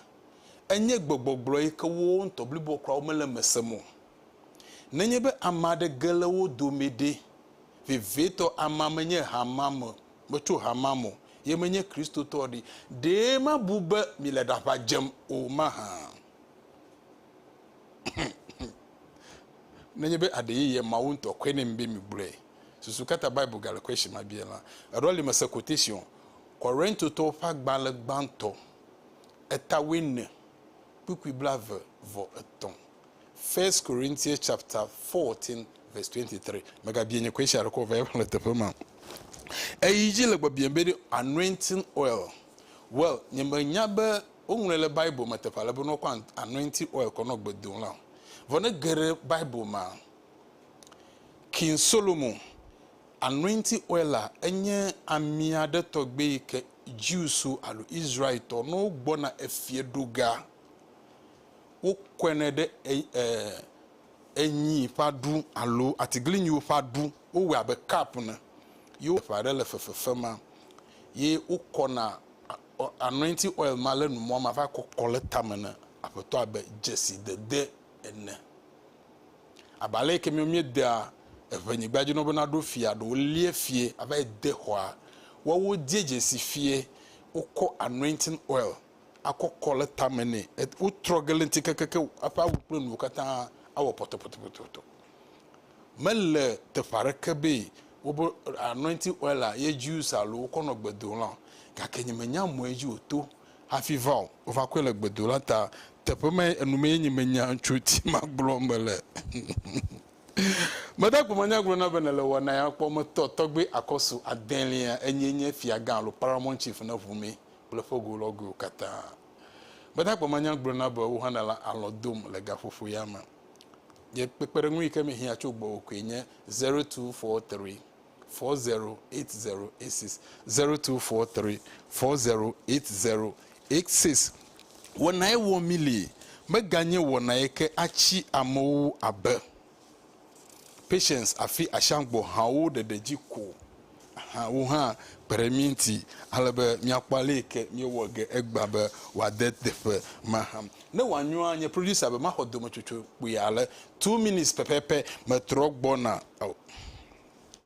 enye gbegbɔgblɔ yi ke wo ŋutɔ bliboa kura womele eme sem o. Nenye be ame aɖe ge le wo dome ɖe, vevietɔ amea menye hamea me Metso ha ma me o. Ye menye Kristotɔ ɖi. Ɖe mabu be mile ɖaʋa dzem o mahã? Nenye be aɖe yeye Mawu ŋutɔ kɔe nɛ mi be migblɔe. Susu ka ta Bible gale question ma biae la? Eɖɔ li mese quotation Korintotɔwo ƒe agbalẽ gbãtɔ eta wuiene kpukpui blaeve vɔ etɔ̃. First Corinthians chapter 14 verse 23. Megabia nye question aɖeke o va yi xlẽ teƒe ma. Eyi dzi le gbɔbiam be ɖe anointing oil. Well, nye menya be woŋlɔe le Bible me teƒe ale be ne wokɔ an- anointing oil kɔ nɔ gbe dom la o. Vɔ ne ge ɖe Bible mea, King Solomon, anointing oil la enye ami aɖe tɔgbe yi ke Jewswo alo Israeltɔ ne wogbɔna efieɖoga wokɔɛnɛ ɖe enyi ƒe aɖu alo atiglinyiwo ƒe aɖu. Wowɔɛ abe kap ene ye wo ƒe aɖe le fefefem ye wokɔna anointi oil ma le nu mɔ ma va kɔkɔ le tame ne aƒetɔ abe dzesi dede ene. Abe ale yike mi miedea eʋe nyigba dzi nɔ be na ɖo fia ɖo wolie fie ava yi de xɔa. Woawo die dzesi fie wokɔ anointing oil. akɔkɔ le tame nɛ. Wotrɔ ge le ŋuti kekekeŋ, eƒe awu kple nuwo katã awɔ pɔtɔpɔtɔpɔtɔ. Mele teƒe aɖeke be wobe anointing oil ye Jews alo wokɔ nɔ gbedola o. Gake nye menya mɔe dzi wòto hafi va o. Wova kɔe le gbedola ta. Teƒe mae, enu mee nye menya tso ŋuti magblɔ be le. Meda gbe manya gblɔ na be nèle wɔna ya kpɔ. Metɔ tɔgbe akɔsu adelia, enyee nye fiagã alo paramount chief ne ŋu mee. kple ƒego lɔgoewo katã. Gbadagba ma nya gblɔna be wohã nèle alɔ̃ dom le gaƒoƒo ya me. Nye kpekpeɖeŋu yi ke mehiã tso gbɔwò koe nye zero two four three four zero eight zero eight six, zero two four three four zero eight zero eight six. Wɔnae wɔ mí li, meganye wɔnae ke atsi amewo abe. Patience afi Ashangbɔ hawo ɖeɖe dzi ko hã wo hã kpe ɖe mí ŋuti ale be míakpɔ aleke míewɔ ge egbea be wòade teƒe ma hã. Ne wòanyoa nye producer be maxɔ dometsotso kpui ale two minutes pɛpɛpɛ metrɔ gbɔna o.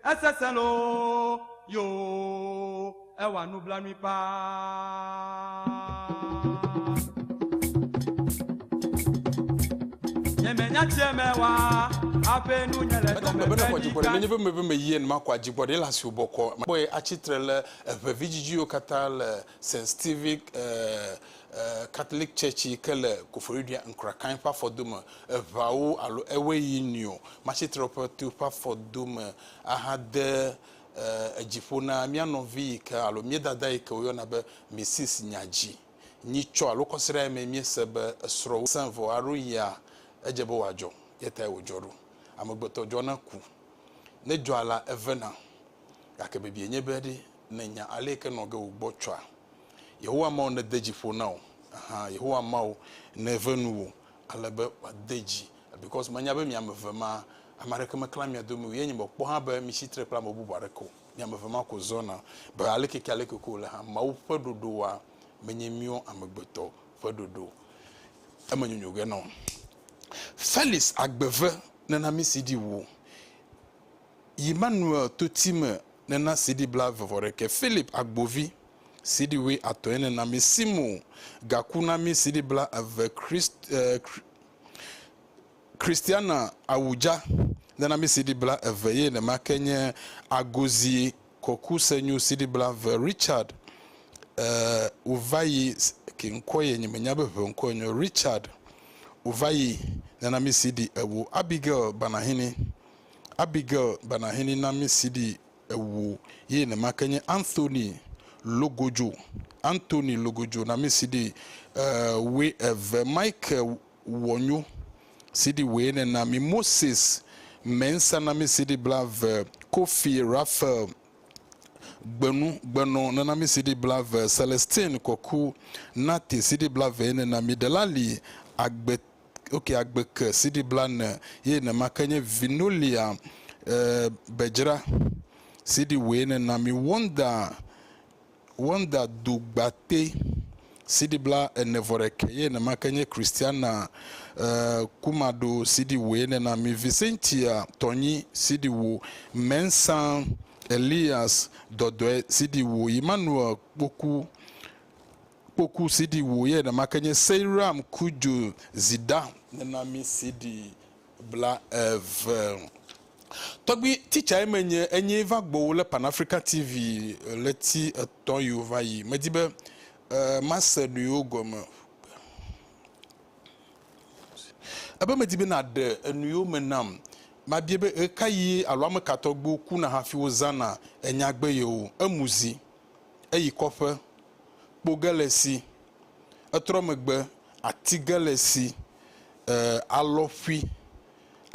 Esesẽ loo yoo, ewɔa nublanui paa. Nye me nya tse me wa, aƒe nu nye le dɔme ƒe ɖi ka. Nenye ƒe mebe me yien ma kɔ adzigbɔ ɖe la si wòbɔ kɔ. Kpɔe atsitre le eŋe vidzidziwo katã le St. Stephen eh, Catholic Church yi ke le Koforidua Nkrakain ƒe afɔdome eveawo alo ewoe yi nio Matsitrɔƒetu ƒe afɔdome ahade edziƒo na mía nɔvi yi ke alo mía dada yi ke woyɔna be Mrs. Nyadzi. Nyitsɔ alo kɔsiɖa ye mee míese be esrɔ̃ sẽ vɔ aɖo yia edze be wòadzɔ ye tae wòdzɔ ɖo. Amegbetɔ dzɔna ku. Ne dzɔa la, evena. Gake bibie nye be ɖe nènya ale yi ke nɔ ge wò gbɔ tsɔa? Yehowa Mawu nede dzi ƒo na wò, ɛhɛ, Yehowa Mawu neve nu wò ale be wòade dzi, because menya be mi ame eve ma, ame aɖeke meklã mia domi o, ye nye mekpɔ hã be mitsi tre kple ame bubu aɖeke o, mi ame eve ma ko zɔna, be alekeke-aleke ke wòle hã, Mawu ƒe ɖoɖowoa menye míwo amegbetɔ ƒe ɖoɖo. Emenyonyo ge na wò. Felix agbe ve nenamisi ɖi wò. Yi Manuel to ti me ne na CD bla ve vɔ ɖekɛ Philip Agbovi CD woe atɔ ye ne na mi Simo ga ku na mi CD bla eve Christ eh, Christiana Awudza ne na mi CD bla eve ye ne ma ke nye Agozi Kɔku Senyu CD bla ve Richard eh, Wovayi ke ŋkɔ ye nye me nya be ʋe ŋkɔ ye nye Richard Wovayi ne na mi CD ewo Abigail Banahini Abigail Banahini na mí CD ewo ye nema ke nye Anthony Logojo, Anthony Logojo na mí CD ewoe eve, Michael Wɔnyo CD woe ne na mí, Moses Mensah na mí CD bla ve, Kofi Raphael Gbenu Gbenɔ ne na mí CD bla ve, Celestine Kɔku Nate CD bla ve ye ne na mí, Delali Agbe wokea agbe ke sidi blane ye nema ke nye vinolia eh, bedzra sidi woe nena mi wonda wonda dugbate sidi bla ene vɔ ɖeke ye nema ke nye kristiana eh, kumado sidi woe nena mi visentia tɔnyi sidi wo mensan elias dɔdɔe sidi wo emmanuel kpoku Kpoku si ɖi wò ye nèma ke nye Seiram Kudjo Zida. Nena mi CD bla eve. Tɔgbi teacher me nye enye va gbɔwo le pan Africa TV leti etɔ yiwo va yi medi be mase nuyiwo gɔme ebe medi be naɖe enuyiwo me nam mabie be ɣekayi alo ameka tɔgbiwo kuna hafi wozana enyagbe yewo emu zi eyi kɔƒe, kpo ge le si, etrɔ megbe ati ge le si e alɔ ƒui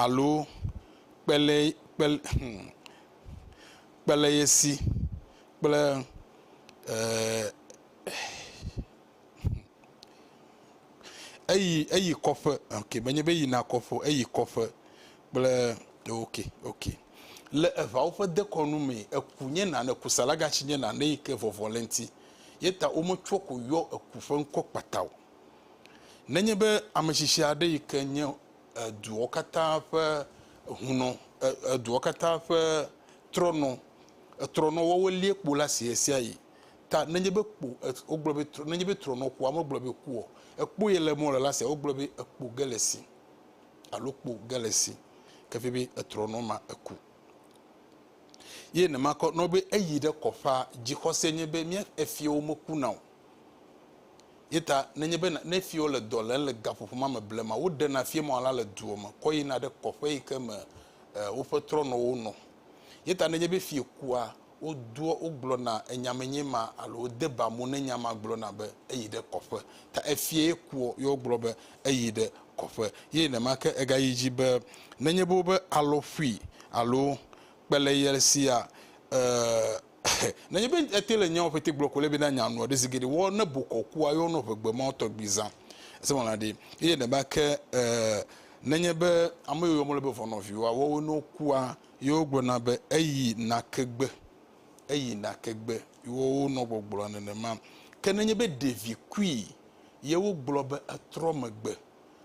alo kpe le kpe le hum kpe le ye si kple e. eyi eyi kɔƒe ok menye be yina kɔƒe o eyi kɔƒe kple ok ok le eʋawo ƒe dekɔnu me eku nye nane kusalagatsi nye nane yi ke vɔvɔ le eŋti ye ta wometsɔ ko yɔ eku ƒe ŋkɔ kpata o. Nenye be ametsitsi aɖe yi ke nye eduawo katã ƒe hunɔ e eduawo katã ƒe trɔnɔ etrɔnɔwɔwɔ liekpo la si ɣesiaɣi ta nenye be kpo wogblɔ be trɔ nenye be trɔnɔ kpoa megblɔ be kuɔ ekpo ye le mɔ le la sia wogblɔ be ekpo ge le si alo kpo ge le si kefi be etrɔnɔ ma eku ye ne ma kɔ nɔ be eyi ɖe kɔƒa dzixɔse nye be mía efiewo meku na o ye ta nenye be ne efiewo le dɔ le le gaƒoƒo ma me blema woɖe na fie mɔ la le duɔ me kɔ yina ɖe kɔƒe yi ke me eh, woƒe trɔnɔwo nɔ ye ta nenye be fie kua wodoa, wogblɔna enya me nye ma alo wode ba mo ne nya ma gblɔna be eyi ɖe kɔƒe. Ta efiae kua ye wogblɔ be eyi ɖe kɔƒe. Ye nenema ke egayi dzi be nenye be wobe alɔ ƒui alo kpe le ye sia e e nenye be ete le nyawo ƒete gblɔ ko le be na nya nua ɖe zi geɖe wɔ ne bokɔ kua ye wonɔ ʋegbe ma tɔgbi zã ese wɔna ɖi. Ye nenema ke e nenye be ame yi woyɔ mɔ le be vɔnɔviwoa wɔwo ne wokua. Ye wogblɔna be, Eyi nake gbe! Eyi nake gbe! Wo wonɔ gbɔgblɔa nenema. Ke nenye be ɖevi kui, ye wogblɔ be etrɔ megbe.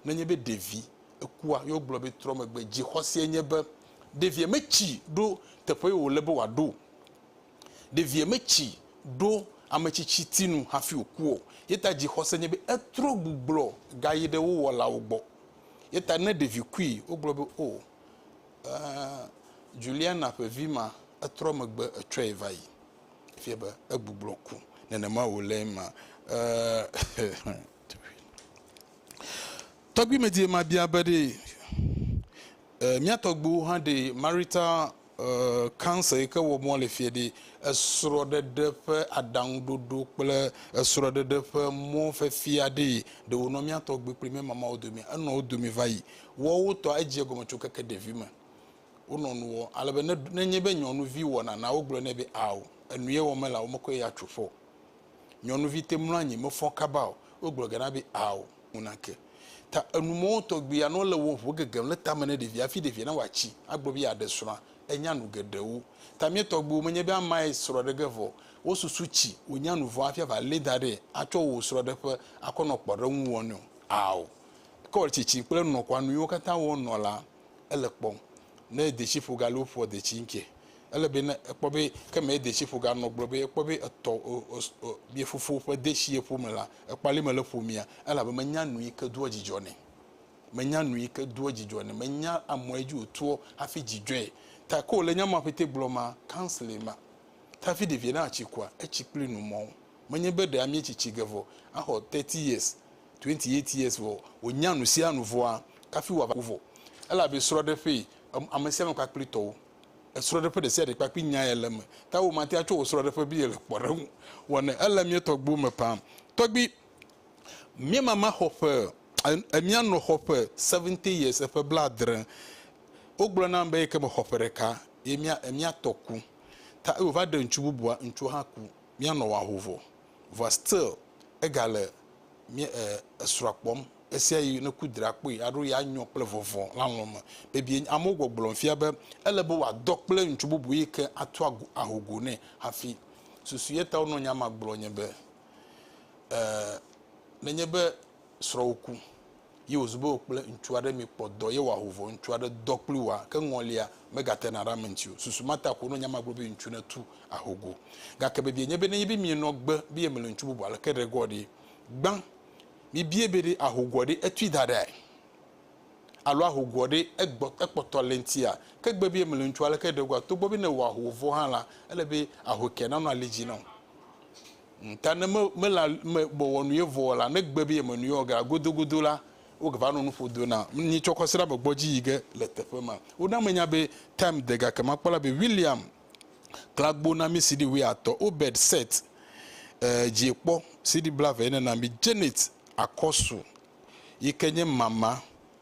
Nenye be ɖevi ekua, ye wogblɔ be trɔ megbe. Dzixɔseɛ nye be ɖeviɛ metsi ɖo teƒe yi wòle be wòaɖo o. Ɖeviɛ metsi ɖo ametsitsi nu hafi wòku o. Ye ta dzixɔse nye be etrɔ gbuglɔ gayi ɖe wo wɔlawo gbɔ. Ye ta ne ɖevi kui, wogblɔ be, Oo. Juliana ƒe vi ma, etrɔ megbe etsɔe va yi. Efia be egbugblo ku. Nenema wòle ema. Tɔgbuimedie mabia be ɖe mía tɔgbuiwo hã ɖe marital cancer yi ke wɔm wole fia ɖe esrɔ̃ɖeɖe ƒe aɖaŋuɖoɖo kple esrɔ̃ɖeɖe ƒe mɔ fiafia ɖee ɖe wònɔ mía tɔgbui kple mía mamawo domea? Enɔ wo dome va yi. Woawo tɔ edze egɔme tso keke ɖevime. Wonɔ nu wɔm ale be ne nenye be nyɔnuvi wɔ nana wogblɔ nɛ be ao, enu ye wɔm mele ao, womekɔe yi atso ƒe o. Nyɔnuvi te mlɔ anyi mefɔ kaba o, wogblɔ ge na be ao, ŋu nake. Ta enu mɔwo tɔgbi anɔ le wɔ ŋu gegem le tame ne ɖevia hafi ɖevia nawɔ atsi agblɔ be yeaɖe srɔ̃a, enya nu geɖewo. Ta mía tɔgbiwo menye be amae srɔ̃ ɖe ge vɔ o. Wosusu tsi wònya nu vɔ hafi ava lée da ɖee atsɔ wò srɔ̃ɖeƒe akɔ nɔ kpɔɖeŋu wɔnɛ o. Ao. Kɔ tsitsi kple nɔkɔa nuyiwo katã wɔ nɔ la ele kpɔm ne detsiƒo ga loo ƒoa detsi ŋkɛ ele be ne ekpɔ be ke me detsiƒo ga nɔ gblɔ be ekpɔ be etɔ ye fofo ƒe detsi ye ƒo me la ekpɔ ale me le ƒo mea ele abe me nya nuyi ke doa dzidzɔ ne me nya nuyi ke doa dzidzɔ ne me nya amɔ edzi o toɔ hafi dzidzɔe ta ko le nya ma ƒe te gblɔ ma kansle ma tafi ɖevie na atsi kua etsi kpli nu mɔ me nye be ɖe amie tsitsi ge vɔ axɔ 30 years Twenty eight years vɔ wònya nusianu vɔa kafi wòava kuvɔ elabe srɔɖeƒe amesiame kpakpli tɔwo esrɔɖeƒe ɖesiaɖe kpakpli nyae le eme ta womate atsɔ wò srɔɖeƒe be yele kpɔɖeŋu wɔne ele mietɔgbuiwo me paa tɔgbi miemama xɔ ƒe emianɔ xɔ ƒe seventy years eƒe bladre wogblɔ nam be yekeme xɔ ƒe ɖeka ye mia emiatɔ ku ta ewova ɖe ŋutsu bubua ŋutsua hã ku mianɔ waho vɔ vɔa still ega le mía e esrɔa kpɔm esia yi ne ku dra kpɔe aɖo ya nyɔ kple vɔvɔ lalɔ me bebie amewo gbɔgblɔm fia be ele be wòadɔ kple ŋutsu bubu yi ke ato ago aho go nɛ hafi susu ye ta wonɔ nya ma gblɔ nye be e nenye be srɔ̃wò ku, yi wòzu be wò kple ŋutsu aɖe mikpɔ dɔ ye wòaho vɔ ŋutsu aɖe dɔ kpli wòa, ke ŋɔlia megatena ɖe ame ŋuti o. Susu ma ta ƒo nɔ nya ma gblɔ be ŋutsu netu aho go. Gake vevie nye be nenye be mienɔ gbe be yemele ŋutsu bubu aleke ɖe gɔ ɖe? Gbã mibiae be ɖe aho goa ɖe etui da ɖea? Alo aho goa ɖe egbɔ, ekpɔtɔ le ŋutia? Ke gbe be yemele ŋutsu aleke ɖe goa? Togbɔ be nèwɔ aho vɔ hã la, ele be ahoekea nanɔ ali dzi na wò. Ta ne me, mela, me, mewɔ nu ye vɔɔ la, ne gbe be yeme nu ye wɔ ge la, godogodo la, woge va nɔ nu ƒo do na nyi tsɔ kɔsiɖa me gbɔ dzi yi ge le teƒe ma. Wona me nya be Time de ga ke ma kpɔ la be William kla gbo na mi CD wuiatɔ̃, Obed, Seth, e, dzie kpɔ, CD blaeve ye nena mi, Janet, Akɔsu, yi ke nye mama.